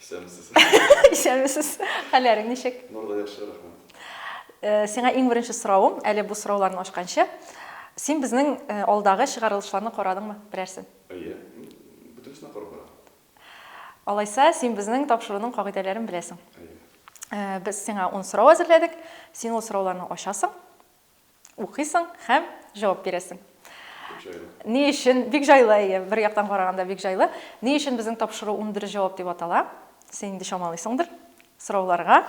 Исәнмесез. Исәнмесез. Хәлләрең ничек? Нурда яхшы, рәхмәт. Э, сиңа иң беренче соравым, әле бу сорауларны ачканчы, син безнең э, алдагы чыгарылышларны карадыңмы берәрсен? Әйе, бөтенесенә карап бара. Алайса, син безнең тапшыруның кагыйдәләрен беләсең. Әйе. Э, без сиңа 10 сорау әзерләдек, син ул сорауларны ачасың. Укыйсың һәм җавап бирәсең. Бик җайлы. Ни өчен? Бик җайлы, әйе, бер яктан караганда бик җайлы. Ни өчен безнең тапшыру ундөрес җавап дип атала? Син инде чамалыйсыңдыр. Сорауларга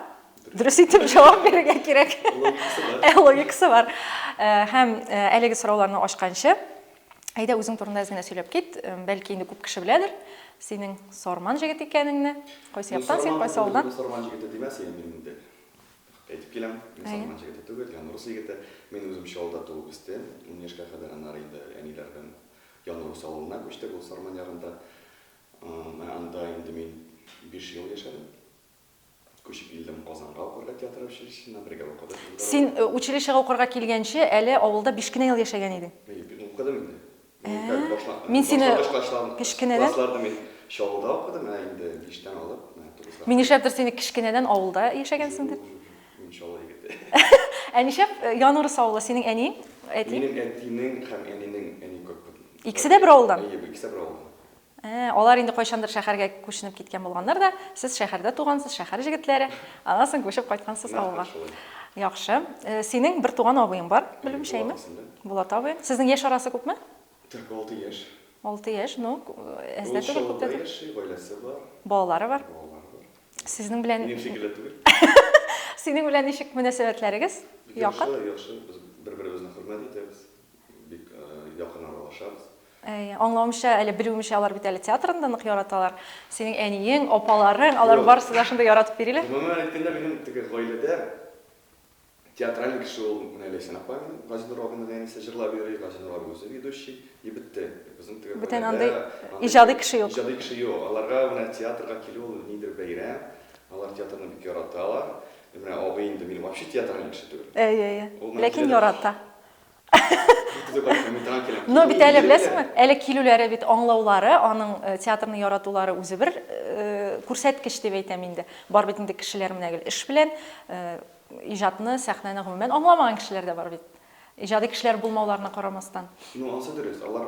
дөрес итеп җавап бирергә кирәк. Логикасы бар. Ә, логикасы бар. Ә, һәм ә, әлеге сорауларны ачканчы, әйдә үзең турында әз генә сөйләп кит. Бәлки инде күп кеше беләдер синең Сарман җегете икәнеңне. Кайсы яктан син, кайсы авылдан? Сарман җегете димә син инде. Әйтеп киләм, мин Салман җегете түгел, Ян урыс егете. Мин үзем Чаллыда туып үстем. Ун яшькә кадәр аннары инде әниләр белән Ян урыс авылына күчтек, ул Сарман ярында. Менә анда инде мин биш ел яшәдем. Күчеп килдем Казанга укырга театр училищесына, бергә укыдык. Син училищега укырга килгәнче әле авылда биш кенә ел яшәгән идең. Укыдым инде. Мин сине кечкенәдән Чаллыда укыдым, ә инде биштән алып, менә тугызга. Мин нишләптер сине кечкенәдән авылда яшәгәнсең дип. Мин Чаллы егете. Ә нишләп Янурс авылы синең әниең, әтиең? Минем әтинең һәм әнинең әни күп. Икесе дә бер авылдан? Әйе, икесе дә бер авылдан. Ә, алар инде кайчандыр шәхәргә күченеп киткән булганнар да, сез шәхәрдә тугансыз, шәхәр җегетләре, аннан соң күчеп кайткансыз авылга. Яхшы. Синең бер туган абыең бар, белүемчә, әйме? Булат абыең. Сезнең яшь арасы күпме? Тик алты яшь. Алты яшь, ну, әз дә түгел, күп тә түгел. Ул Чаллыда яши, гаиләсе бар. Балалары бар. Балалары бар. Сезнең белән. Минем шикелле түгел. Синең белән ничек мөнәсәбәтләрегез? Якын? Яхшы, яхшы. Без бер-беребезне хөрмәт итәбез, бик якын аралашабыз. Әй, аңлавымча, әле белүемчә, алар бит әле театрны да нык яраталар. Синең әниең, апаларың, алар Юк. барысы да шундый яратып йөриләр. Гомумән әйткәндә, минем теге гаиләдә театральный кеше ул менә Ләйсән апа минем, Газинур абыйның әнисе җырлап йөри, Газинур абый үзе ведущий, и бетте. Безнең теге Бүтән гаиләдә андый андый иҗади кеше юк. иҗади кеше юк. Аларга менә театрга килү ул ниндидер бәйрәм. Алар театрны бик яраталар. Менә абый инде минем вообще театральный кеше түгел. Әйе, әйе. Ул менә Ләкин киләдер. ярата. Но бит әле беләсеңме, әле килүләре бит аңлаулары, аның э, театрны яратулары үзе бер э, күрсәткеч дип әйтәм инде. Бар бит инде кешеләр менә гел эш белән э, иҗатны, сәхнәне гомумән аңламаган кешеләр дә бар бит. Иҗади кешеләр булмауларына карамастан. Ну, ансы дөрес, алар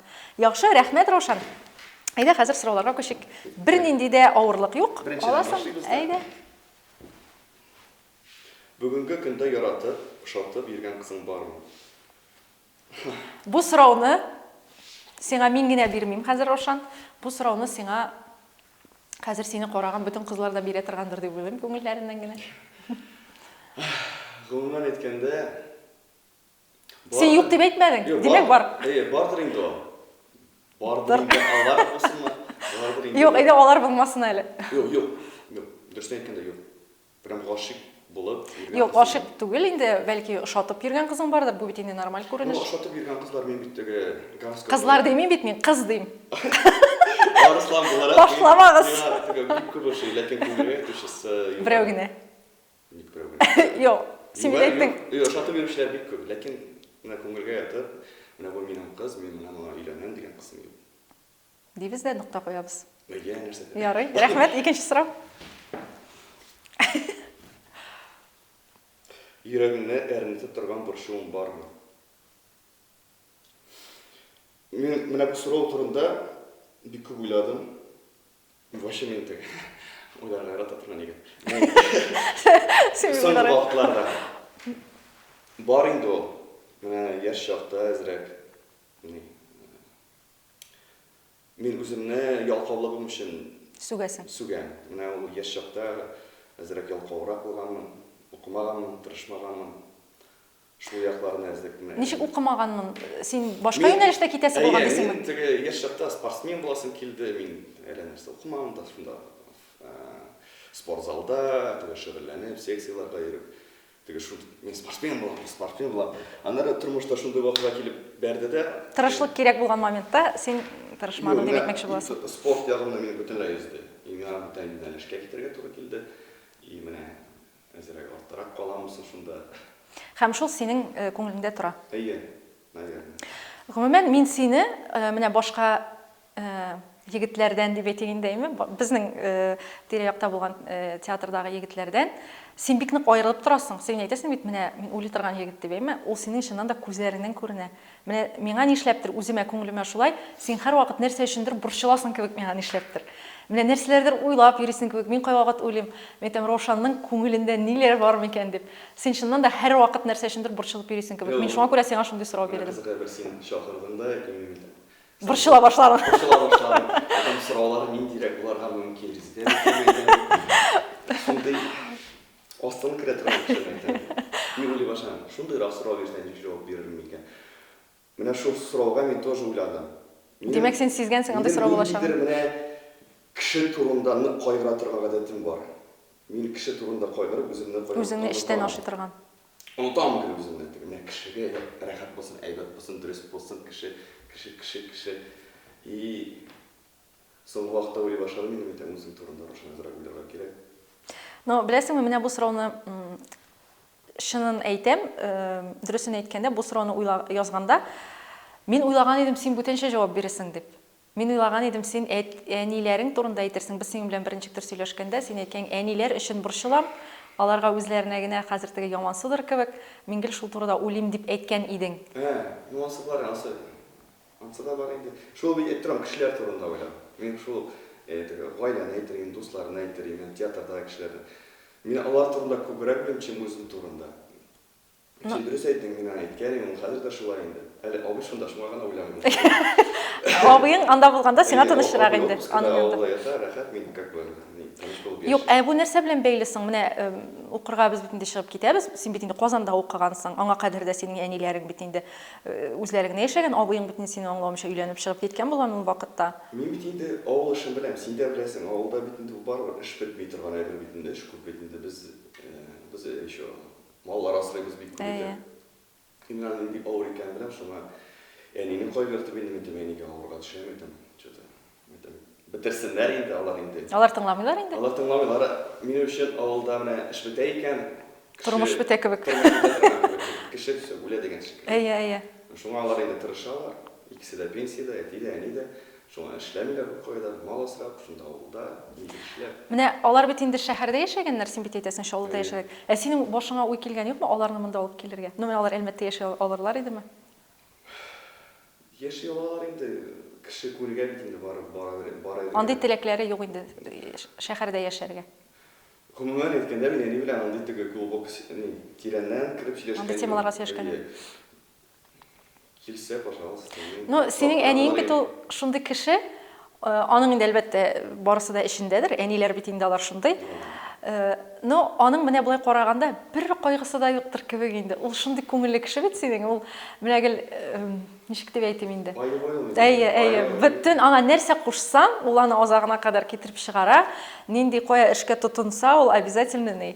Яхшы, рәхмәт, Раушан. Әйдә, хәзер сорауларга күчик. Бернинди дә авырлык юк. Аласың. Әйдә. Бүгенге көндә яратып, ошатып йөргән кызың бармы? Бу сорауны сиңа мин генә бирмим хәзер, Раушан. Бу сорауны сиңа хәзер сине караган бөтен кызлар да бирә торгандыр дип уйлыйм күңелләреннән генә. Гомумән әйткәндә, Син юк дип әйтмәдең. Димәк бар. Әйе, бардыр инде ул. Бардыр инде алар булсынмы? Бардыр инде. Юк, әйдә алар булмасын әле. Юк, юк. Юк, дөрес әйткәндә юк. Прям гашыйк булып йөргән. Юк, гашыйк түгел инде, бәлки ошатып йөргән кызың бардыр, бу бит инде нормаль күренеш. Ну, ошатып йөргән кызлар мин бит теге гороскоп. Кызлар димим бит мин, кыз дим. Арыслан буларак. Башламагыз. Миңа теге бик күп ошый, ләкин күңелгә ятучысы. Берәү генә. Ник проблема? Юк, син бит әйттең. Юк, ошатып йөрүчеләр бик күп, ләкин менә күңелгә ятып, менә бу минем кыз, мин менә моңа өйләнәм дигән кысым юк. Дибез дә нокта куябыз. Әйе, нәрсә дә. Ярый, рәхмәт, икенче сорау. Йөрәгеңне әрнетеп торган борчуың бармы? Мин менә бу сорау турында бик күп уйладым. Вообще мин теге уйларга ярата торган егет. Соңгы вакытларда бар инде ул. Менә яшь чакта әзрәк мин үземне ялкаулыгым өчен сүгәсең. Сүгәм. Менә ул яшь чакта әзрәк ялкаурак булганмын, укымаганмын, тырышмаганмын. Шул яклар нәзлекме? Ничек укымаганмын? Син башка юнәлештә китәсе булган дисеңме? Мин теге яшь чакта спортсмен буласым килде, мин әллә нәрсә укымадым да, шунда спорт залда теге шөгыльләнеп, секцияләргә йөреп, теге шул мин спортсмен булам, спортсмен булам. Аннары тормышта шундый вакыйга килеп бәрде дә. Тырышлык кирәк булган моментта син тырышмадың дип әйтмәкче буласың. Спорт ягымны мин бөтенләй өзде. И миңа бүтән юнәлешкә китәргә туры килде. И менә Әзрәк артырак каламы соң шунда? Һәм шул синең күңелеңдә тора. Әйе, наверное. Гомумән, мин сине менә башка егетләрдән дип әйтик инде, әйме, безнең тирә-якта булган театрдагы егетләрдән син бик нык аерылып торасың. Син әйтәсең бит, менә мин уйлый торган егет дип, әйме, ул синең чыннан да күзләреңнән күренә. Менә миңа нишләптер, үземә, күңелемә шулай, син һәрвакыт нәрсә өчендер борчыласың кебек миңа нишләптер. Менә нәрсәләрдер уйлап йөрисең кебек, мин кайвакыт уйлыйм, мин әйтәм, Раушанның күңелендә ниләр бар микән дип. Син чыннан да һәрвакыт нәрсә өчендер борчылып йөрисең кебек. Мин шуңа күрә сиңа шундый сорау бирдем. Менә кызык әйбер, син чакырдың да, яки мин әйтәм. Борчыла башладың. Борчыла башладым. Әйтәм, сорауларым ниндирәк булырга мөмкин, резидент кемме икән дип. Шундый. Астын керә торган кешеләр икән. Мин уйлый башладым, шундыйрак сорау бирсә, ничек җавап бирермен икән? Менә шул сорауга мин тоже уйладым. Димәк, син сизгәнсең андый сорау булачагын. Минем ниндидер менә кеше турында нык кайгыра торган гадәтем бар. Мин кеше турында кайгырып, үземне кайгыртам. Үзеңне эчтән ашый торган. Онытам гел үземне. Теге менә кешегә рәхәт булсын, әйбәт булсын, дөрес булсын, кеше, кеше, кеше, кеше. И. Соңгы вакытта уйлый башладым инде мин дә үзем турында Рушан азрак уйларга кирәк. Но беләсеңме, менә бу сорауны чынын әйтәм, дөресен әйткәндә, бу сорауны уйла язганда мин уйлаган идем, син бүтәнчә җавап бирерсең дип. Мин уйлаган идем, син әниләрең турында әйтерсең. Без синең белән беренче төр сөйләшкәндә, син әйткән, әниләр өчен борчылам, аларга үзләренә генә хәзер теге ямансыдыр кебек, мин гел шул турыда уйлыйм дип әйткән идең. Ә, ямансызлар ансы. Ансы да бар инде. Шул мин әйтеп торам, кешеләр турында уйла. Мин шул теге гаиләне әйтер идем, дусларны әйтер идем, һәм театрдагы кешеләрне. Мин алар турында күбрәк уйлыйм, чем үзем турында. Син дөрес әйттең, мин аңа әйткән идем, ул хәзер дә шулай инде. Әле абый шунда, шуңа гына уйламыйм. Абыең анда булганда сиңа тынычрак инде. Аның янында. Авылда ята, рәхәт, мин как бы тыныч булып яшим. Юк, ә бу нәрсә белән бәйле соң? Менә укырга без бит инде чыгып китәбез. Син бит инде Казанда укыгансың. Аңа кадәр дә синең әниләрең бит инде. Үзләре генә яшәгән, абыең бит инде сине аңламыйча өйләнеп чыгып киткән булган ул вакытта. Мин бит инде авыл эшен беләм, син дә беләсең, авылда бит инде ул барыбер эш бетми торган әйбер бит инде, эш күп бит инде, без, без еще маллар асрыйбыз бит күп итеп. Инде аның бик авыр икәнен беләм, шуңа әнине кайгыртып инде мин тим, әнигә авырга төшәм идем, че-то. Әйтәм, бетерсеннәр инде алар инде. Алар тыңламыйлар инде. Алар тыңламыйлар. Минем өчен авылда менә эш бетә икән, кеше Тормыш бетә кебек. тормыш бетә торган кебек. Кеше все, үлә дигән шикелле. Әйе, әйе. Шуңа алар инде тырышалар. Икесе дә пенсиядә, әти дә, әни дә. Шуңа эшләмиләр беркая да. Мал асрап, шунда авылда инде эшләп. Менә алар бит инде шәһәрдә яшәгәннәр, син бит әйтәсең, Чаллыда Әйе. яшәдек. Ә синең башыңа уй килгән юкмы, аларны монда алып килергә? Ну, менә алар Әлмәттә яши алырлар идеме? Яши алалар инде, кеше күргән бит инде барып бар әйберне. Андый теләкләре юк инде шәхәрдә яшәргә. Гомумән әйткәндә, мин әни белән андый теге глубок, ни, тирәннән кереп сөйләшкән юк. Андый темаларга сөйләшкән юк. Әйе. Килсә, пожалуйста. Ну, синең әниең бит ул шундый кеше, Аның инде, әлбәттә, барысы да эчендәдер, әниләр бит инде алар шундый. Но аның менә болай караганда бер кайгысы да юктыр кебек инде. Ул шундый күңелле кеше бит синең. Ул менә гел ничек дип әйтим инде. Әйе, әйе. Бөтен аңа нәрсә кушсаң, ул аны азагына кадәр китереп чыгара. Нинди кая эшкә тотынса, ул обязательно ни.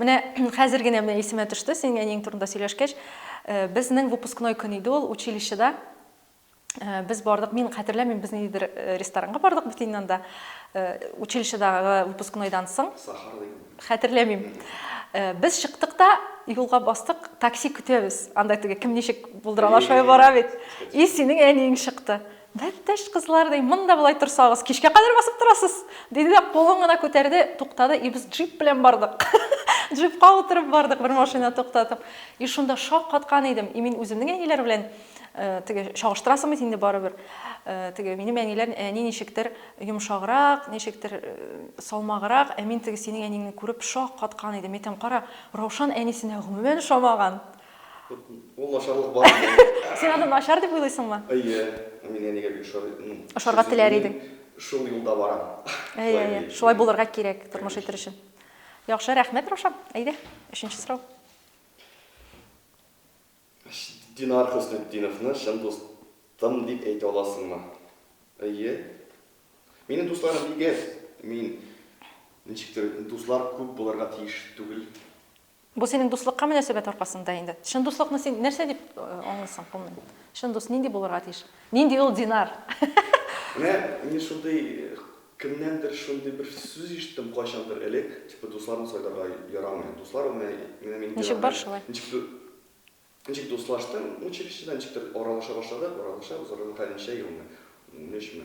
Менә хәзер генә менә исемә төште, синең әниең турында сөйләшкәч, э, безнең выпускной көн иде ул училищеда. Э, без бардык, мин хәтерләмим, без ниндидер э, ресторанга бардык бит инде анда. Училищедагы выпускнойдан соң. Сахар дигән. Хәтерләмим. Без чыктык та юлга бастык, такси көтәбез. Анда теге кем ничек булдыралар, шулай бара бит. И синең әниең чыкты. Бәлтәш кызлар, ди, монда болай торсагыз, кичкә кадәр басып торасыз! диде дә кулын гына күтәрде, туктады, и без джип белән бардык. Джипка утырып бардык, бер машина туктатып. И шунда шаккаткан идем, и мин үземнең әниләр белән теге чагыштырасың бит инде барыбер. Теге минем әниләр, әни ничектер йомшаграк, ничектер салмаграк, ә мин теге синең әниңне күреп шаккаткан идем. Әйтәм, кара, Раушан әнисенә гомумән ошамаган. Ул начарлык бар инде. Син аны начар дип уйлыйсыңмы? Әйе. Ә миңа нигә бик ошар? Ошарга теләр идең. Шул юлда барам. Әйе, әйе. Шулай булырга кирәк тормыш итер өчен. Яхшы, рәхмәт, Раушан. Әйдә, өченче сорау. Динар Хөснетдиновны чын дустым дип әйтә аласыңмы? Әйе. Минем дусларым бик әз. Мин ничектер дуслар күп булырга тиеш түгел. Бу синең дуслыкка мөнәсәбәт аркасында инде. Чын дуслыкны син нәрсә дип аңлыйсың, гомумән? Чын дус нинди булырга тиеш? Нинди ул Динар? Менә мин шундый кемнәндер шундый бер сүз ишеттем кайчандыр элек, типа дусларны сайларга ярамый. Дуслар ул менә менә мин Ничек бар, шулай. Ничек дуслаштым училищеда, ничектер аралаша башладык, аралаша, узарга хәлничә елмы, унөчме,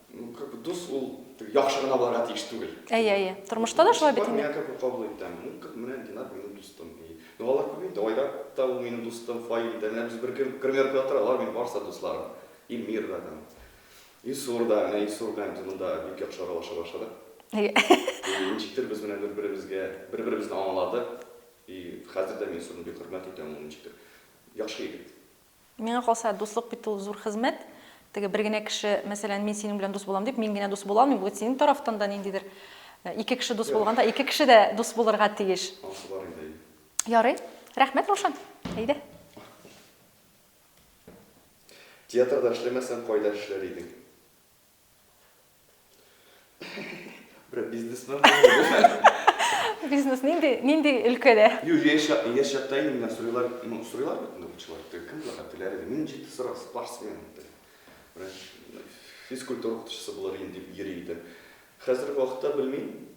Ну, как бы дус ул яхшы гына булырга тиеш түгел. Әйе, әйе. Тормышта да шулай бит инде. Мин как кабул итәм. Ну, как менә Динар минем дустым. Ну, алар күп инде. Айрат та ул минем дустым, Фаил дә. Менә без бер көн гримерка утыра, алар минем барысы дусларым. Илмир да там. Илсур да, менә Илсур белән без монда бик яхшы аралаша башладык. Әйе. Ничектер без менә бер-беребезгә, бер-беребезне аңладык. И хәзер дә мин Илсурны бик хөрмәт итәм, ул ничектер яхшы егет. Миңа калса, дуслык бит ул зур хезмәт. Теге бер генә кеше, мәсәлән, мин синең белән дус булам дип, мин генә дус була алмыйм, бу бит синең тарафтан да ниндидер ике кеше дус булганда, ике кеше дә дус булырга тиеш. Анысы бар инде, әйе. Ярый. Рәхмәт, Раушан. Әйдә. Театрда эшләмәсәң, кайда эшләр идең? Бер бизнесмен Бизнес нинди нинди өлкәдә? Юк, яшь яшь чакта инде менә сорыйлар, ну сорыйлар бит инде укучылар. Кем була теләре? Мин җитди сорау, спортсмен ди. Бер физкультура укытучысы булыр идем дип йөри идем. Хәзерге вакытта белмим.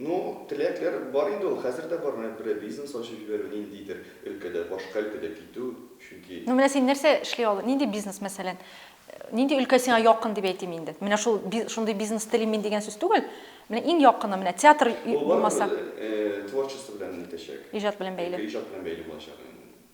Ну, теләкләр бар инде ул, хәзер дә бар, менә берәр бизнес ачып җибәрү, ниндидер өлкәдә, башка өлкәдә китү, чөнки. Ну, менә син нәрсә эшли аласың, нинди бизнес, мәсәлән, нинди өлкә сиңа якын дип әйтим инде, менә шул, шундый бизнес телим мин дигән сүз түгел, менә иң якыны, менә театр булмаса. Ул барыбер творчество белән итәчәк. Иҗат белән бәйле. Иҗат белән бәйле булачак.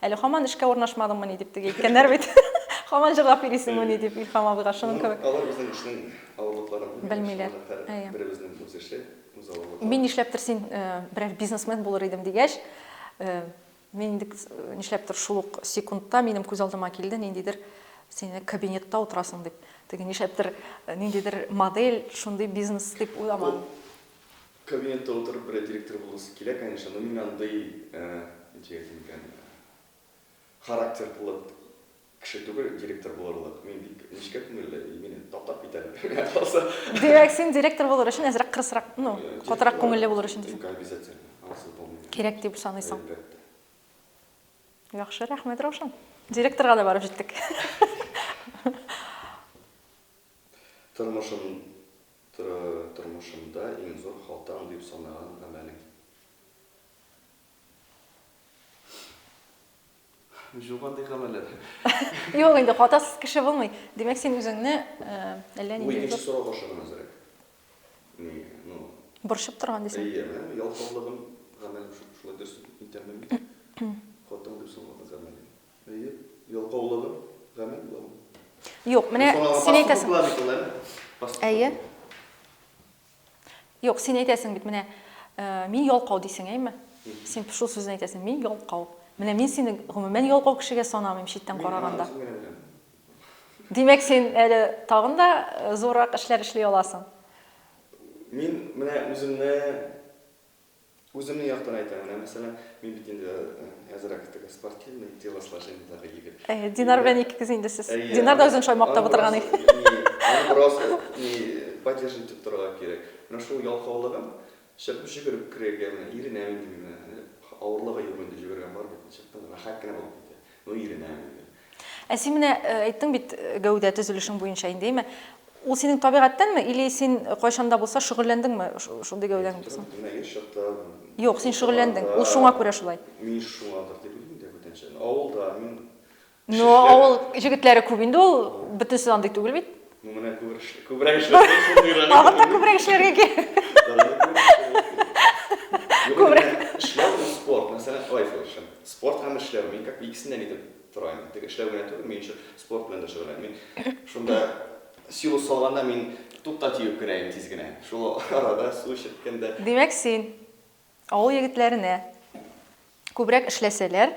Әле хаман эшкә урнашмадыңмыни дип теге әйткәннәр бит. Хаман җырлап йөрисеңмени дип Илһам абыйга шуның кебек. Алар безнең эшнең авырлыкларын белмиләр. Әйе. Беребезнең үз эше, үз авырлыклары. Мин нишләптер син берәр бизнесмен булыр идем дигәч, мин инде нишләптер шул ук секундта минем күз алдыма килде ниндидер син кабинетта утырасың дип. Теге нишләптер ниндидер модель шундый бизнес дип уйламадым. Кабинетта утырып берәр директор буласы килә, конечно, но мин андый, ничек әйтим икән, характер кылып кеше түгел директор булырлык. Мин бик нечкә күңелле, и мине таптап китәр миңа калса. Димәк, син директор булыр өчен әзрәк кырысрак, ну, катырак күңелле булыр өчен дисең. Обязательно, ансыз булмый. Кирәк дип саныйсың. Әлбәттә. Яхшы, рәхмәт, Раушан. Директорга да барып җиттек. Тормышым Тора, тормышымда иң зур халтам дип санаган гамәлең? Юк андый гамәлләр. Юк инде, хатасыз кеше булмый. Димәк, син үзеңне әллә нинди зур... Бу икенче сорау аша гына әзрәк. Ни, ну... Борчып торган дисең? Әйе, әйе, ялкаулыгым, гамәлем шулай дөрес итәммени? Хатам дип санаган гамәлең? Әйе, ялкаулыгы гамәл буламы? Юк, менә син әйтәсең. Әйе. Юк, син әйтәсең бит, менә мин ялкау дисең, әйме? Син шул сүзне әйтәсең, мин ялкау. Менә мин сине гомумән ялкау кешегә санамыйм читтән караганда. Димәк, син әле тагын да э, зуррак эшләр эшли аласың. Мин менә үземне Үземнең яктан әйтәм, менә мәсәлән, мин бит инде әзрәк теге спортивный телосложениедагы егет. Әйе, Динар белән икегез инде сез. Динар да үзен шулай мактап утырган иде. Аны бераз ни поддерживать итеп торырга кирәк. Менә шул ялкаулыгым чыгып җөгереп керергә менә иренәм инде мин менә. Авырлыгы юк инде, җөгергән бар бит, чыктым, рәхәт кенә булып китә. Ну иренәм инде. Ә син менә әйттең бит гәүдә төзелешең буенча инде, әйме? Ул синең табигатьтәнме или син кайчан да булса шөгыльләндеңме шундый гәүдәң булсын? Менә яшь чакта Юк, син шөгыльләндең. Ул шуңа күрә шулай. Мин шуңадыр дип уйлыйм инде бүтәнчә. Авылда мин Но авыл җегетләре күп инде ул, бөтенесе андый түгел бит. Ну, менә күбрәк эшләр, күбрәк эшләр, шуны өйрәнеп. Тагын да күбрәк эшләргә кирәк. Күбрәк. Эшләр һәм спорт, мәсәлән, Айфел эшем. Спорт һәм эшләр, мин как бы икесендә нидер торам. Тик эшләр белән түгел, мин еще спорт белән дә шөгыльләнәм. Мин шунда силу салганда мин тупта тиеп кенә идем тиз генә. Шул арада су эчерткәндә. Димәк, син авыл егетләренә күбрәк эшләсәләр,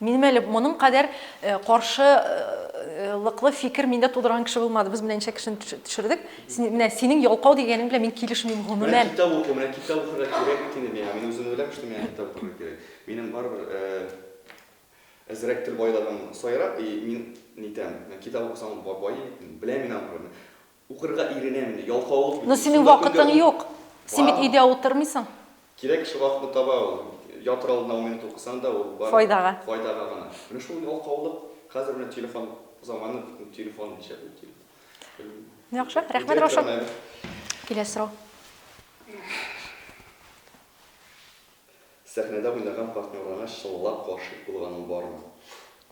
Минем әле моның кадәр каршы лыклы фикер миндә тудырган кеше булмады. Без менә ничә кешене төшердек. Син, менә синең ялкау дигәнең белән мин килешмим гомумән. Менә китап укый, менә китап укырга кирәк бит инде миңа. Мин үзем беләм шул, миңа китап укырга кирәк. Минем барыбер әзрәк тел байлыгым саерак и мин нитәм. Китап укысам баи, беләм мин анларны. Укырга иренәмени, ялкаулык бит ул. Ну синең вакытың юк. Син бит өйдә утырмыйсың. Кирәк кеше вакытны таба ул. Ятыр алдына ун минут укысаң да ул бары файдага гына. Менә шул ялкаулык, хәзер менә телефон заманы, телефон нишләп ул телефон. Белмим. Яхшы, рәхмәт Раушан. Киләсе сорау. Сәхнәдә уйнаган партнерларына чынлап гашыйк булганың бармы?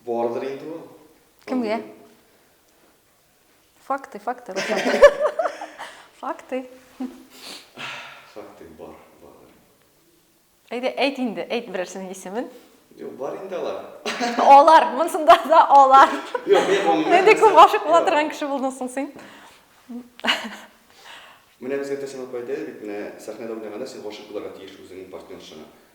Бардыр инде ул. Кемгә? Факты, факты, Факты. Факты бар, бар. Әйдә, әйт инде, әйт берәрсенең исемен. Юк, бар инде алар. Алар, монсында да алар. Юк, мин гомумән. Нинди күп гашык була торган кеше булдың соң син? Менә безгә Тәсәм апай әйтә бит, менә сәхнәдә уйнаганда син гашык буларга тиеш үзеңнең партнершаңа.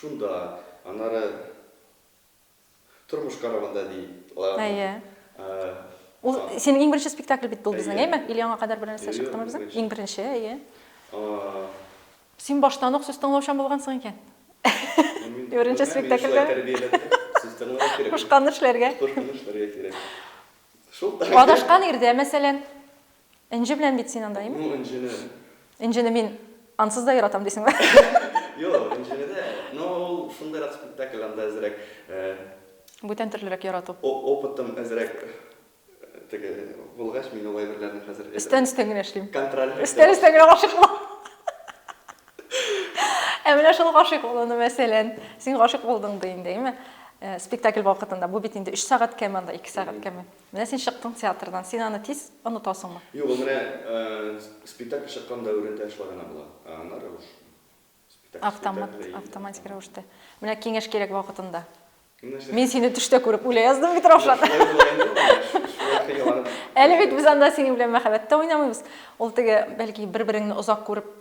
Шунда, аннары Тормыш каравында ди. Әйе. Ул синең иң беренче спектакль бит бул безнең, әйме? Или аңа кадәр бернәрсә чыктымы безнең? Иң беренче, әйе. Син баштан ук сүз тыңлаучан булгансың икән. Беренче спектакльдә. Кушканны эшләргә. Кушканны эшләргә кирәк. Шул. Адашкан ирдә, мәсәлән. Энҗе белән бит син анда, имеш. Ну, Энҗене. Энҗене мин ансыз да яратам дисеңме? Юк, Энҗене дә, но ул шундыйрак спектакль, анда әзрәк, э. Бүтән төрлерәк ярату. Опытым әзрәк теге булгач, мин ул әйберләрне хәзер әзрәк. Өстән-өстән генә эшлим. Контроль. Өстән-өстән генә гашыйк булам. Ә менә шул гашыйк булуны, мәсәлән, син гашыйк булдың ди инде, име? Спектакль вакытында. Бу бит инде өч сәгать кәме анда, ике сәгать кәме. Менә син чыктың театрдан. Син аны тиз онытасыңмы? Юк, ул менә спектакль чыккан дәверендә шулай гына була. Ә аннары уж спектакль, Автомат, спектакль, автоматик рәвештә. Менә киңәш кирәк вакытында. Менә нәрсә. Мин сине төштә күреп үлә яздым бит, Раушан. Шулай була инде ул, менә шулай хыялланып. Әле бит без анда синең белән мәхәббәттә уйнамыйбыз. Ул теге, бәлки, бер-береңне озак күреп.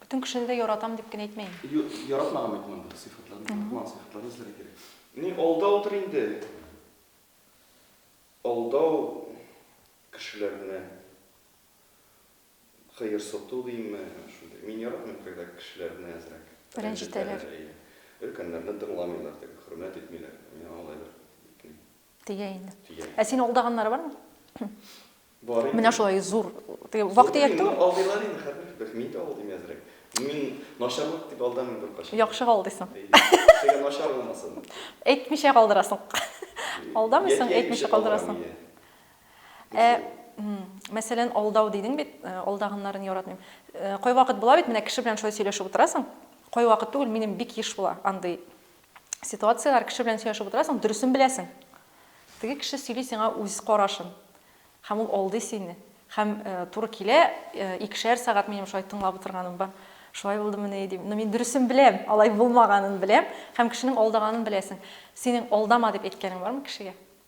Бөтен кешене дә яратам дип кенә әйтмә инде. Юк, яратмаган бит монда сыйфатларны, яратмаган сыйфатларны эзләргә кирәк. Ни, алда утыр инде. Алдау кешеләрне, кыерсыту димме, шундый. Мин яратмыйм, когда кешеләрне әзрәк рәнҗетәләр. Өлкәннәрне тыңламыйлар, хөрмәт итмиләр. Миңа алай бер Тия инде. Ә син алдаганнары бармы? Бар инде. Менә шулай зур. Теге вак дияттең. Алдыйлар инде хәзер. Бер мин дә алдым әзрәк. Мин начарлык дип алдамын бер качан. Яхшы алдыйсың. Кешегә начар булмасын. Әйтмичә калдырасың. Алдамыйсың, әйтмичә калдырасың. Ә, мәсәлән, алдау дидең бит, алдаганнарын яратмыйм. Кайвакыт була бит, менә кеше белән шулай сөйләшеп утырасың. Кайвакыт түгел, минем бик еш була андый ситуацияләр, кеше белән сөйләшеп утырасың, дөресен беләсең. Теге кеше сөйли сиңа үз карашын. Һәм ул алдый сине. Һәм э, туры килә, э, икешәр сәгать минем шулай тыңлап утырганым бар. Шулай булды мени дим. Но мин дөресен беләм, алай булмаганын беләм. Һәм кешенең алдаганын беләсең. Синең алдама дип әйткәнең бармы кешегә?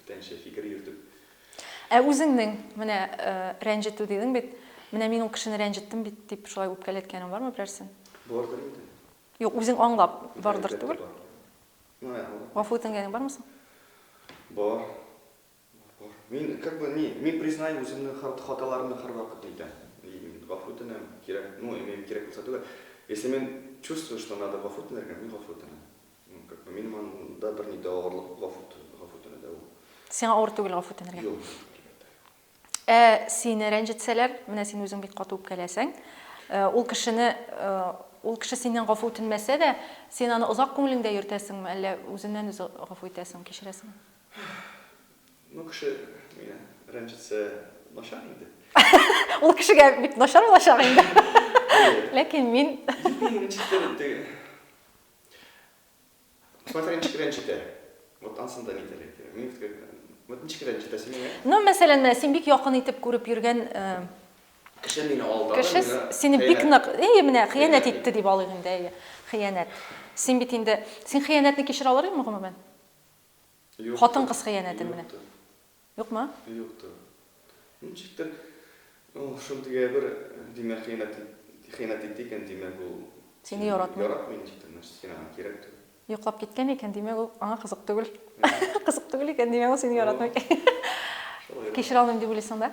Бүтәнчә фикер йөртеп. Ә үзеңнең, менә рәнҗетү дидең бит, менә мин ул кешене рәнҗеттем бит, дип шулай үпкәләткәнең бармы берәрсен? Бардыр инде. Юк, үзең аңлап бардыр түгел? Гафу үтенгәнең бармы соң? Бар. Бар. Мин как бы не, мин признаю үземнең хаталарымны һәрвакыт әйтәм. И мин гафу үтенәм, кирәк, ну, имею кирәк булса түгел. Если мин чувствую, что надо гафу үтенергә, мин гафу үтенәм. Как бы минем анда бер ни дә авырлык гафүтенә дә ул. Сиңа авыр түгел гафүтенергә? Юк, әлбәттә. Ә сине рәнҗетсәләр, менә син үзең бик каты үпкәләсәң, ул кешене, ул кеше синнән гафу үтенмәсә дә, син аны озак күңелеңдә йөртәсеңме, әллә үзеннән үзе гафу итәсең, кичерәсеңме? Ну, кеше мине рәнҗетсә, начар инде. Ул кешегә бик начар булачак инде. Ләкин мин... Юк, мин рәнҗетәм инде. Смотря ничек рәнҗетә. Вот ансын да нидер әйтә. Мин вот ничек рәнҗетә син миңа? Ну, мәсәлән, син бик якын итеп күреп йөргән кеше мине алдады. Кеше сине бик нык, әйе, менә хыянәт итте дип алыйк инде, әйе. Хыянәт. Син бит инде, син хыянәтне кичерә алыр идеңме гомумән? Хатын-кыз хыянәтен менә. Юктыр. Юкмы? Юктыр. Ничектер, ул шундый әйбер, димәк, хыянәт, хыянәт итте икән, димәк, ул. Сине яратмый. Яратмый ничектер, значит, син аңа кирәк түгел. Йоклап киткән икән, димәк, ул аңа кызык түгел. Кызык түгел икән, димәк, ул сине яратмый. Шулай. Кичерә алмыйм дип уйлыйсың да?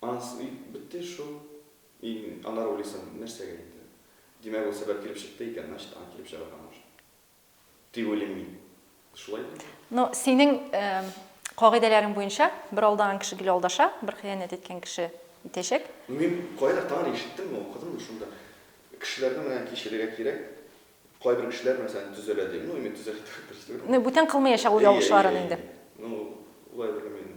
Анс уй бетте шул. Ин анар уйлыйсым, нәрсәгә инде? Димәк, ул сәбәп килеп чыкты икән, значит, аңа килеп чыгарга нужно. Дип уйлыйм мин. Шулай бит? Ну, синең кагыйдәләрең буенча, бер алдаган кеше гел алдаша, бер хыянәт иткән кеше итәчәк. Ну, мин кайдадыр тагын ишеттемме, укыдыммы шунда, кешеләрне менә кичерергә кирәк, кайбер кешеләр, мәсәлән, төзәлә дип. Ну, именно төзәлә дип әйтергә дөрес түгел. Ну, бүтән кылмыячак ул ялгышларын инде. Ну, болай белмим.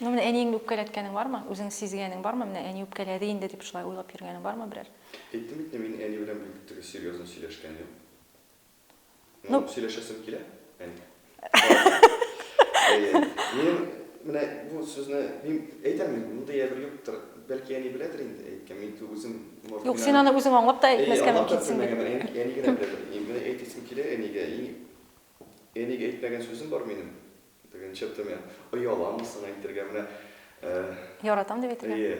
Ну менә әниеңне үпкәләткәнең бармы? Үзең сизгәнең бармы? Менә әни үпкәләде инде дип шулай уйлап йөргәнең бармы берәр? Әйттем бит, мин әни белән бик теге серьезно сөйләшкәнем юк. Ну сөйләшәсем килә, әни. Мин менә бу сүзне мин әйтәм инде, мондый әйбер юктыр. Бәлки әни беләдер инде әйткән, мин ту үзем морф Юк, син аны үзең аңлап та әйтмәскә мөмкинсең бит. Әни генә беләдер. Менә әйтәсем килә әнигә, әни әнигә әйтмәгән сүзем бар минем. Тегенчә төмә. Ояламы соң әйтергә менә. Э, Яратам дип әйтергә. Әйе.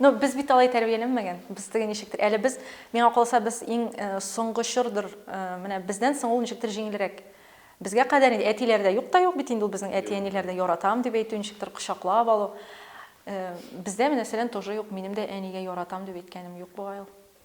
Но без бит алай тәрбияләнмәгән. Без теге ничектер. Әле без, миңа калса, без иң э, соңгы чордыр. Э, менә бездән соң ул ничектер җиңелрәк. Безгә кадәр инде әтиләрдә юк та юк бит инде ул безнең әти-әниләрдә яратам дип әйтү, ничектер кочаклап алу. Э, бездә, мәсәлән, тоже юк. Минем дә әнигә яратам дип әйткәнем юк бугай ул.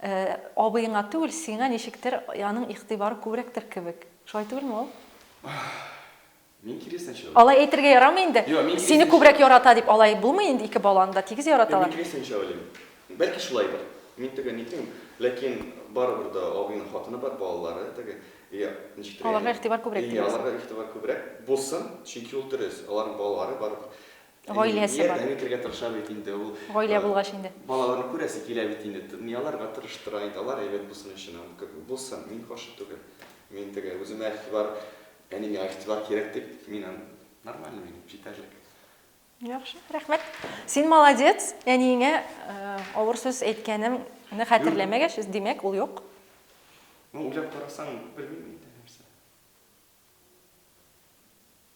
Э, абыеңа түгел, сиңа ничектер аның игътибары күбрәктер кебек. Шулай түгелме ул? Мин киресенчә уйлыйм. Алай әйтергә ярамый инде. Юк, мин Сине күбрәк ярата дип алай булмый инде, ике баланы да тигез яраталар. Мин киресенчә уйлыйм. Бәлки шулайдыр. Мин теге нитмим, ләкин барыбер дә абыйның хатыны бар, балалары теге. И ничектер. Аларга игътибар күбрәк дигән. Аларга игътибар күбрәк булсын, чөнки ул дөрес. Аларның балалары бар. Гаиләсе бар. Ярдәм итәргә тырыша бит инде ул. Гаилә булгач инде. Балаларны күрәсе килә бит инде. Тынлыяларга тырыштыра инде. Алар әйбәт булсын өчен. Булсын, мин каршы түгел. Мин теге, үземә игътибар, әнигә игътибар кирәк дип, мин аны, нормально минем, җитәрлек. Яхшы, рәхмәт. Син молодец, әниеңә авыр сүз әйткәнеңне хәтерләмәгәч, димәк, ул юк. Ну, уйлап карасаң, белмим инде.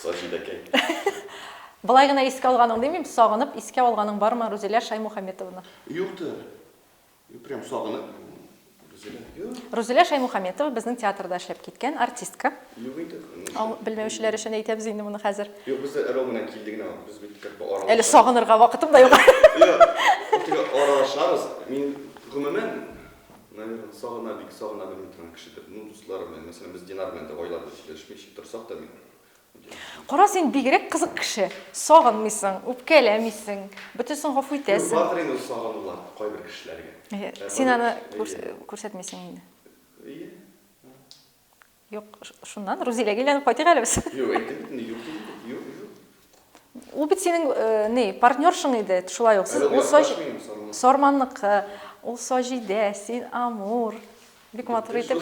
Сочи да кәй. Былай гына искә алганың димим, сагынып искә алганың бармы Рузилә Шаймухаметовна? Юк та. Юк, прям сагынып. Рузилә, юк. Рузилә Шаймухаметова безнең театрда эшләп киткән артистка. Юк инде. Ау, белмәүчеләр өчен әйтәбез инде моны хәзер. Юк, без дә Рома белән килде генә. Без бит как бы аралашабыз. Әле сагынырга вакытым да юк. Юк, аралашабыз. Мин гомумән Наверно, сагына бик сагына белми торган кешедер. Ну, дусларым белән, мәсәлән, без Динар белән дә айлар буе сөйләшмичә торсак та, мин үтенечне. Кара, син бигрәк кызык кеше. Сагынмыйсың, үпкәләмисең, бөтенесен гафу итәсең. Бардыр инде ул сагынулар кайбер кешеләргә. Әйе, син аны күрсәтмисең инде. Әйе. Юк, шуннан Рузиләгә әйләнеп кайтыйк әле без. Юк, әйтте бит инде, юк диде. Юк, юк. Ул бит синең э, ни, партнершың иде, шулай ук. Сез ул саҗ... Сарманнык. Ул саҗидә, син амур. Бик матур итеп.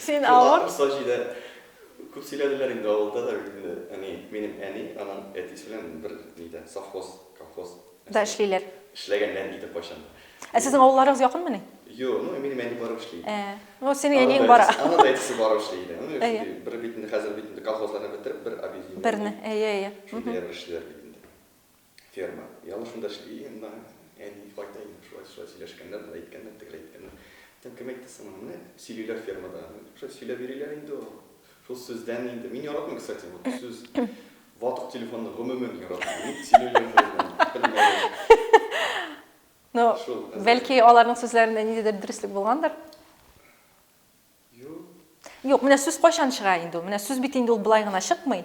Син авыр. Саҗидә. Күп сөйләделәр инде авылда да инде. Әни, минем әни, аның әтисе белән бер нидә, совхоз, колхоз. Да эшлиләр. Эшләгәннәр иде кайчан да. Ә сезнең авылларыгыз якынмыни? Юк, ну минем әни барып эшли иде. Ә, ну синең әниең бара. Аны да әтисе барып эшли иде. Ну шундый бер бит инде хәзер бит инде колхозларны бетереп, бер объединение. Берне, әйе, әйе. Шундый бер эшлиләр бит инде. Ферма. Яңа шунда эшли, монда әни кайта инде шулай, шулай сөйләшкәннәр, болай әйткәннәр, тегеләй әйткәннәр. Кем әйтте соң аны? Менә сөйлиләр фермада. Шулай сөйләп йөриләр инде ул. Шул сүздән инде. Мин яратмыйм, кстати, бу сүз. Ватык телефонны гомумән яратмыйм. Ник сөйләгән булмыйм, белмәдем. Ну, бәлки аларның сүзләрендә ниндидер дөреслек булгандыр? Юк. Юк, менә сүз кайчан чыга инде ул? Менә сүз бит инде ул болай гына чыкмый.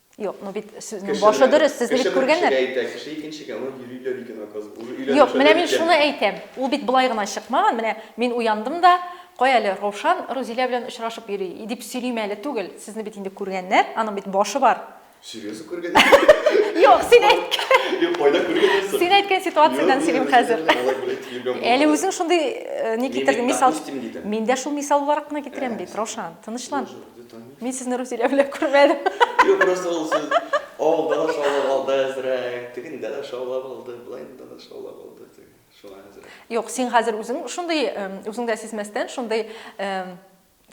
Юк, ну бит сүзнең башы дөрес, сез бит күргәннәр. Кеше әйтә, кеше икенчегә аны йөриләр икән, оказывается. Юк, менә мин шуны әйтәм. Ул бит былай гына чыкмаган. Менә мин уяндым да, кай әле Ровшан Рузилә белән очрашып йөри, дип сөйлим әле түгел. Сезне бит инде күргәннәр, аның бит башы бар. Серьезно күргән? Юк, син әйткән. Юк, кайда күргән? Син әйткән ситуациядән сөйлим хәзер. Әле үзең шундый э, ни китердең, мисал. Мин дә шул мисал буларак кына китерәм бит, Ровшан, тынычлан. Мин сезне Рузилә белән күрмәдем. Юк, просто ул сүз авылда да шаулап алды әзрәк, тегендә дә шаулап алды, болайында да шаулап алды. Шуңа әзрәк. Юк, син хәзер үзең шундый, үзең дә сизмәстән, шундый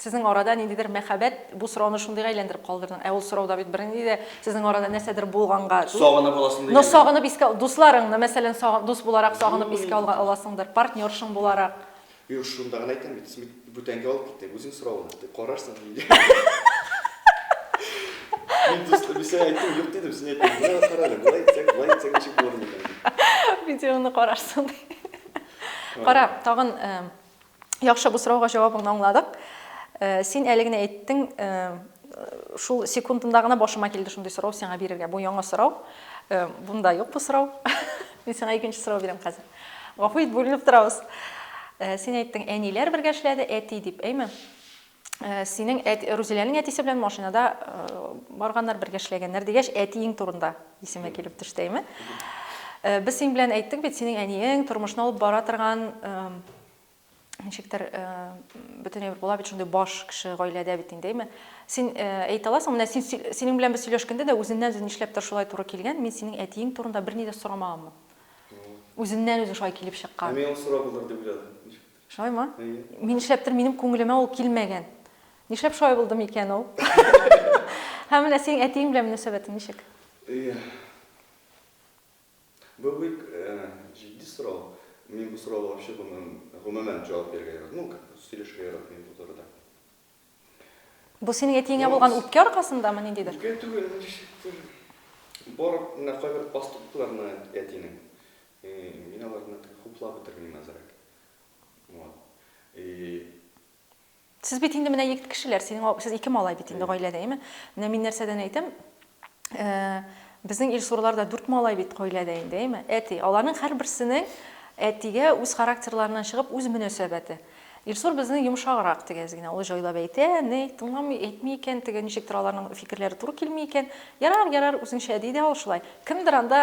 сезнең арада ниндидер мәхәббәт, бу сорауны шундыйга әйләндереп калдырдың. Ә ул сорауда бит бернинди дә сезнең арада нәрсәдер булганга. Сагынып аласың дигән. Но сагынып искә, дусларыңны, мәсәлән, дус буларак сагынып искә аласыңдыр, партнершың буларак. Юк, шунда гына әйтәм бит, син бит бүтәнгә алып киттең, үзең соравыңны дип карарсың инде. Мин дус Ләбисә әйттем, юк дидем, син әйттең. Менә кара әле, болай итсәк, болай итсәк ничек булыр микән? Видеоны карарсың ди. Кара, тагын яхшы бу сорауга җавабыңны аңладык. Син әле генә әйттең, шул секундында гына башыма килде шундый сорау сиңа бирергә. Бу яңа сорау. Бунда юк бу сорау. Мин сиңа икенче сорау бирәм хәзер. Гафу ит, бүленеп торабыз. Э, син әйттең, әниләр бергә эшләде, әти дип, әйме? Э, синең Рузиләнең әтисе белән машинада э, барганнар, бергә эшләгәннәр дигәч, әтиең турында исеме килеп төште, әйме? Без синең белән әйттек бит, синең әниең тормышны алып бара торган Ничектер бөтенләй була бит шундый баш кеше гаиләдә бит инде, әйме? Син әйтә аласың, менә син синең белән без сөйләшкәндә дә үзеннән үзе нишләптер шулай туры килгән, мин синең әтиең турында берни дә сорамаганмын. Үзеннән үзе шулай килеп чыккан. Ә мин ул сорау булыр дип уйладым, ничектер. Шулаймы? Әйе. Мин нишләптер минем күңелемә ул килмәгән. Нишләп шулай булды микән ул? Һәм менә синең әтиең белән мөнәсәбәтең ничек? Әйе. Бу бик җитди сорау. Мин бу сорауга вообще гомумән җавап бирергә яратмыйм. Ну, как бы, сөйләшергә яратмыйм бу турыда. Бу синең әтиеңә булган үпкә аркасындамы, ниндидер? Үпкә түгел, ничектер барып менә кайбер поступкларны әтинең, мин аларны хуплап бетермим әзрәк. Вот. И. Сез бит инде менә егет кешеләр, синең сез ике малай бит инде гаиләдә, әйме? Менә мин нәрсәдән әйтәм, безнең Илсурларда дүрт малай бит гаиләдә инде, әйме? Әти, аларның һәрберсенең әтигә үз характерларыннан чыгып үз мөнәсәбәте. Илсур безнең йомшаграк дигәз генә, ул җайлап әйтә, ни, тыңламый, әйтми икән, теге ничектер аларның фикерләре туры килми икән. Ярар, ярар, үзеңчә, ди дә ул шулай. Кемдер анда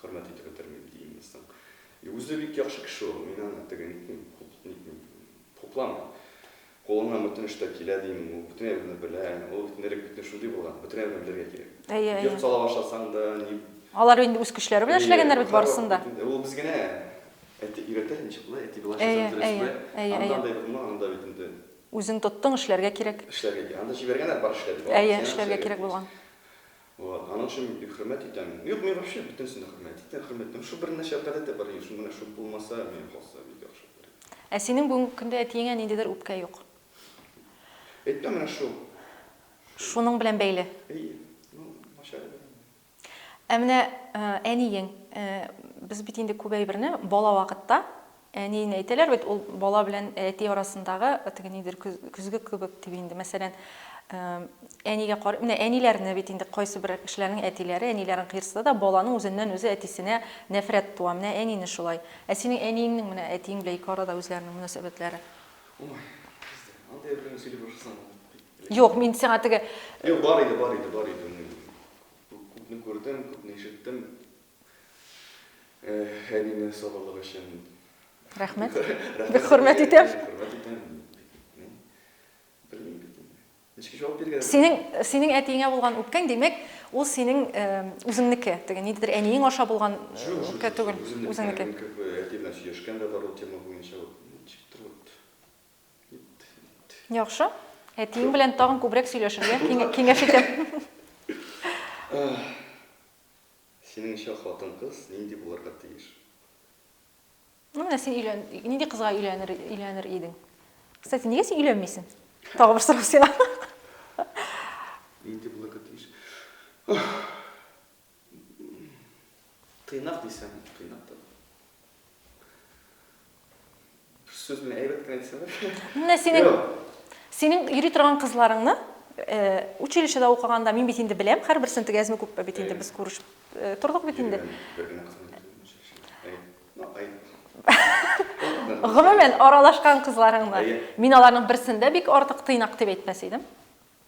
Хөрмәт итеп бетермим, ди инглизның. И үзе бик яхшы кеше ул, мин аны теге нитмим, нитмим, хупламыйм. Кулыннан бөтен эш тә килә, дим, ул бөтен әйберне белә, ул бит элек бит шундый булган, бөтен әйберне белергә кирәк. Әйе, әйе. Йорт сала башласаң да, ни... Алар инде үз көчләре белән эшләгәннәр бит барысын да. Ул без генә әти өйрәтә, ничек болай, әти болай эшләсәң, дөрес болай. Әйе, әйе. Анда бит булмаган, анда бит инде. Үзең тоттың, эшләргә кирәк. Эшләргә кирәк. Анда җибәргәннәр, бар эшлә дип. Әйе, эшләргә кирәк булган. Вот, аның өчен мин бик хөрмәт итәм. Юк, мин вообще бөтенесен дә хөрмәт итәм, хөрмәт итәм. Шул бер нәрсә гадәттә бар иде шул, менә шул булмаса, миңа калса, бик яхшы булыр иде. Ә синең бүгенге көндә әтиеңә ниндидер үпкә юк. Әйтмә менә шул. Шуның белән бәйле. Әйе. Ну, начар иде. Ә менә әниең, без бит инде күп әйберне бала вакытта, Әниен әйтәләр бит, ул бала белән әти арасындагы теге нидер көзге кебек дип инде. Мәсәлән, әнигә кар, менә әниләрне бит инде кайсы бер кешеләрнең әтиләре, әниләрен кыерсыта да, баланың үзеннән үзе әтисенә нәфрәт туа. Менә әнине шулай. Ә синең әниеңнең менә әтиең белән ике арада үзләренең мөнәсәбәтләре. Ой, андый әбиләрне сөйли башласаң, Юк, мин сиңа теге Юк, бар иде, бар иде, бар иде. Күпне күрдем, күпне ишеттем. Әнине сабырлык өчен. Рәхмәт. Бик хөрмәт итәм. Хөрмәт итәм. Белмим бит инде. Ничек җавап биргән? Синең синең әтиеңә булган үпкәң, димәк, ул синең үзеңнеке. Теге ниндидер әниең аша булган үпкә түгел, үзеңнеке. Әти белән сөйләшкән дә бар ул тема буенча. Ничектер вот. Яхшы. Әтиең белән тагын күбрәк сөйләшергә киңәш итәм. Синеңчә, хатын-кыз нинди булырга тиеш? Ну, менә син өйлән, нинди кызга өйләнер, өйләнер идең? Кстати, нигә син өйләнмисең? Тагы бер сорау сиңа. Нинди булырга тиеш? Тыйнак дисәң, тыйнак та. Сүз белән әйбәт кенә дисәләр. Менә синең синең йөри торган кызларыңны э, училищеда укыганда мин бит инде беләм, һәрберсен тегәзме күпме бит инде без күрешеп э, тордык бит инде. Гомумән аралашкан кызларыңны. Мин аларның берсендә бик артык тыйнак дип әйтмәс идем.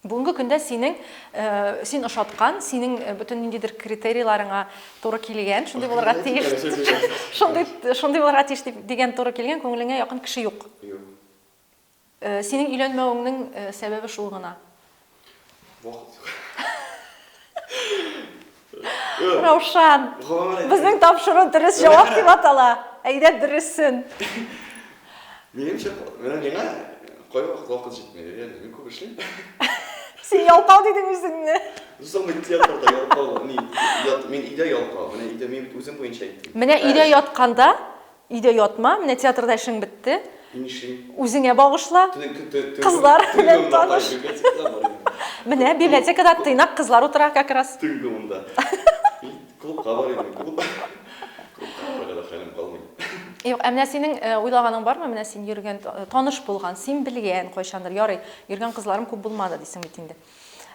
Бүгенге көндә синең, син ошаткан, синең бөтен ниндидер критерийларыңа туры килгән, шундый булырга тиеш, шундый, шундый булырга тиеш дип, дигән туры килгән күңелеңә якын кеше юк. Юк. Синең өйләнмәвеңнең сәбәбе шул гына. Вакыт юк. Раушан, безнең тапшыру дөрес җавап дип атала. Әйдә дөресен. Минемчә, менә миңа кайвакыт вакыт җитми. Реально, мин күп эшлим. Син ялкау дидең үзеңне. Соң мин театрда ялкау, мин өйдә ялкау. Менә өйдә мин үзем буенча әйттем. Менә өйдә ятканда Өйдә ятма, менә театрда эшең бетте. Нишлим? Үзеңә багышла. Кызлар белән таныш. Менә библиотекада тыйнак кызлар утыра как раз. Төнге унда. Клубка барыйм мин, клуб. Клубка барырга да хәлем калмый. Юк, ә менә синең уйлаганың бармы, менә син йөргән, таныш булган, син белгән кайчандыр, ярый, йөргән кызларым күп булмады дисең бит инде.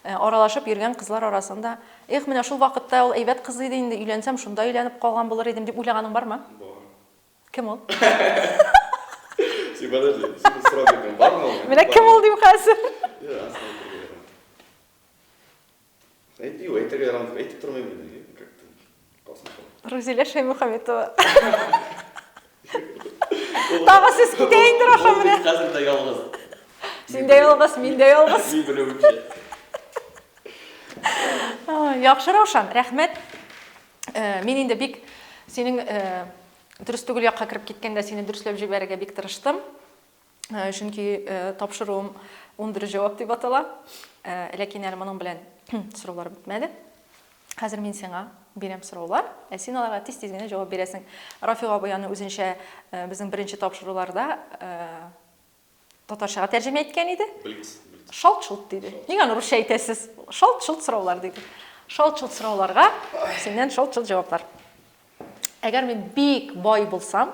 Э, аралашып йөргән кызлар арасында эх менә шул вакытта ул әйбәт кыз иде инде өйләнсәм шунда өйләнеп калган булыр идем дип уйлаганың бармы бар кем ул менә кем ул дим хәзер әйтмим әйтергә ярамый әйтеп тормыйм Рузилә Шәймөхәметова. Тагы сез китә инде Раша менә. Хәзер дә ялгыз. Син дә ялгыз, мин дә ялгыз. Мин белүемчә. Яхшы Раушан, рәхмәт. Э, мин инде бик синең э, дөрес түгел якка кереп киткәндә сине дөресләп җибәрергә бик тырыштым. Чөнки тапшыруым унбер җавап дип атала. Ләкин әле моның белән сораулар бетмәде. Хәзер мин сиңа бирәм сораулар, ә син аларга тиз-тиз генә җавап бирәсең. Рафига абый аны үзенчә безнең беренче тапшыруларда татарчага тәрҗемә иткән иде. Блиц, блиц. Шалт-шолт диде. Ник аны русча әйтәсез? Шалт-шолт сораулар диде. Шалт-шолт сорауларга синнән шалт-шолт җаваплар. Әгәр мин бик бай булсам,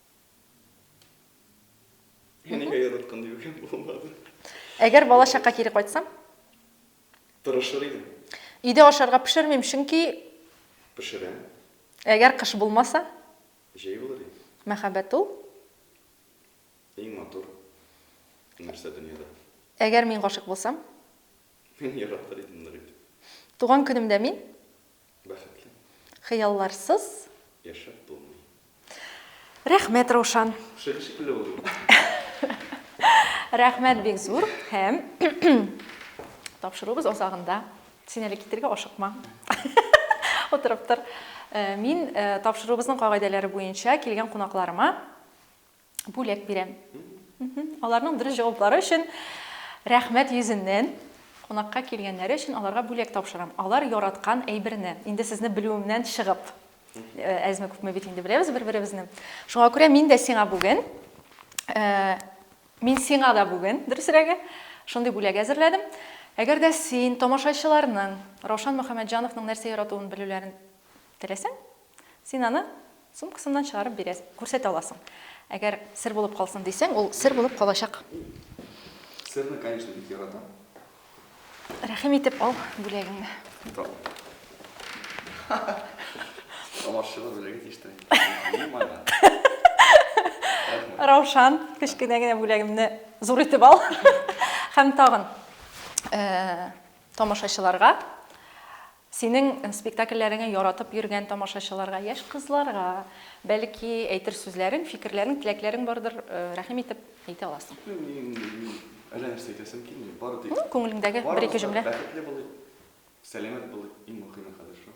Нигә яраткан диюгә булмады. Әгәр бала чакка кире кайтсам? Тырышыр идем. Өйдә ашарга пешермим, чөнки... Пешерәм. Әгәр кыш булмаса? Җәй булыр иде. Мәхәббәт ул? Иң матур нәрсә дөньяда. Әгәр мин гашык булсам? Мин яратыр идем нык итеп. Туган көнемдә мин? Бәхетле. Хыялларсыз. Яшәп булмый. Рәхмәт, Раушан. Шик шикелле булдым. Рәхмәт бик зур һәм тапшыруыбыз азагында. Син әле китергә ашыкма. Утырып тор. Мин тапшыруыбызның кагыйдәләре буенча килгән кунакларыма бүләк бирәм. Аларның дөрес җаваплары өчен рәхмәт йөзеннән кунакка килгәннәре өчен аларга бүләк тапшырам. Алар яраткан әйберне, инде сезне белүемнән чыгып, э, әзме күпме бит инде беләбез бер-беребезне. Шуңа күрә мин дә сиңа бүген, э, мин сиңа да бүген, дөресрәге, шундый бүләк әзерләдем. Әгәр дә син тамашачыларның Раушан Мөхәммәтҗановның нәрсә яратуын белүләрен теләсәң, Син аны сумкасыннан чыгарып бирәсең, күрсәтә аласың. Әгәр сер булып калсын дисәң, ул сер булып калачак. Серне, конечно, бик яратам. Рәхим итеп ал бүләгеңне. Тамашачылар белергә тиеш тә. Ни мана? Раушан, кечкенә генә бүләгемне зур итеп ал. Һәм тагын тамашачыларга Синең спектакльләреңә яратып йөргән тамашачыларга, яшь кызларга, бәлки, әйтер сүзләрең, фикерләрең, теләкләрең бардыр, рәхим итеп әйтә аласың. Мин, мин, мин әллә нәрсә әйтәсем килми, бары тик. Ну, күңелеңдәге бер-ике җөмлә. Барыбыз да бәхетле булыйк, сәламәт булыйк, иң мөхиме хәзер шул.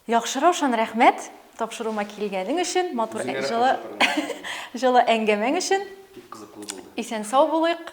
Яхшы, Раушан, рәхмәт, тапшыруыма килгәнең өчен, матур Үзеңә рәхмәт, җылы, җылы әңгәмәң өчен. Бик кызыклы булды. Исән-сау булыйк.